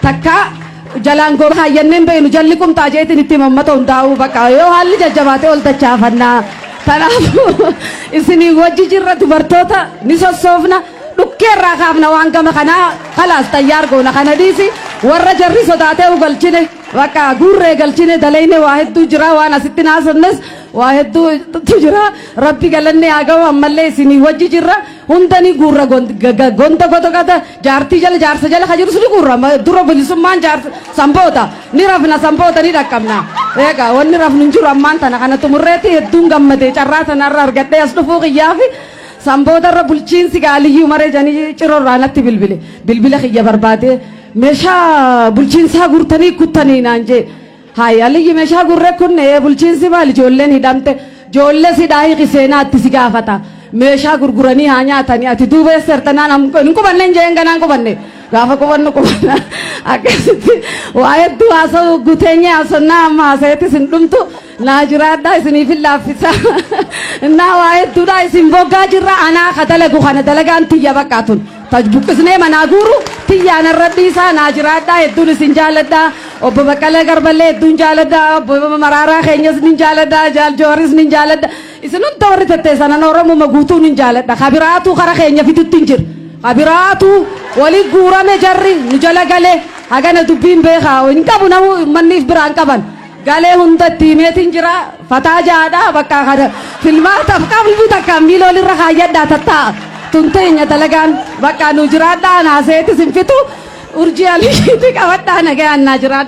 takkaa jalaan goba haayyanneen beeknu jalli qumxaa jeetiin itti mammata hundaa'uu baqa yoo haalli jajjabaatee ol dachaafannaa kanaafuu isinii wajji jirra dubartoota ni sossoofna dhukkee irraa kaafna waan gama kanaa kalaas xayyaar goona kana dhiisi warra jarri sodaatee galchine baqa guurree galchine dalayne waa hedduu jira waan asitti naasofnes waa hedduutu jira rabbi galanne haa ga'u ammallee isinii wajji jirra hundanii guurra gonda godogata Jaartii jala jaarsa jala ka jirus ni guurra Ma- dura bilisummaan jaarsa sanboota ni rafna sanboota ni dhaqqabna eega wanni rafnu hin jiru ammaan tana kana xumurreetti hedduun gammadee carraa tana irra argadhee as dhufuu kiyyaa fi sanboota irra bulchiinsi gaaliyyuu maree janii ciroo irraa natti bilbile bilbila kiyya barbaadee meeshaa bulchiinsaa guurtanii kuttanii naan jee Hayi Aliyyi meshaa gurre kunne bulchiinsi maal ijoolleen hidhamte joolles hidhaa hiki seenaa itti si gaafata meeshaa gurguranii haa nyaatani ati duuba eessa jirta naan am- hin qubanne hin jeen ganaan qubanne gaafa qubannu qubanna akkasitti waa hedduu haasa'u guteenye haasonnaa amma haasa'etti isin dhumtu naa jiraadhaa isiniif hin laaffisa innaa waa hedduudhaa isin boggaa jirra anaa ka dalagu kana dalagaan tiyya baqqaa tun Taj buqqisnee manaa guuru tiyyaa narra dhiisaa naa jiraadhaa hedduun isin jaaladha obbo Baqqalee Garballee hedduun jaaladha obbo Maraaraa keenyas nin jaaladha Jaal Jooharis nin jaaladha isin hunda warri tetteessan ana Oromuma guutuu nin jaaladha ka biraatuu kara keenya fidutti hin jira ka biraatuu wali guurame jarri nu jala gale hagana dubbiin beekaa hin qabu namu manniif biraan qaban Galee hundatti himeetin jira fataa jaadha bakka kana filmaataf qalbii takkaan miila olirra kaayyadhaa tattaa tun teenya dalagaan bakka nu jiraadhaa naaseetis hin fitu urjii aliishiitii qabadhaa nagayaan naa jiraadha.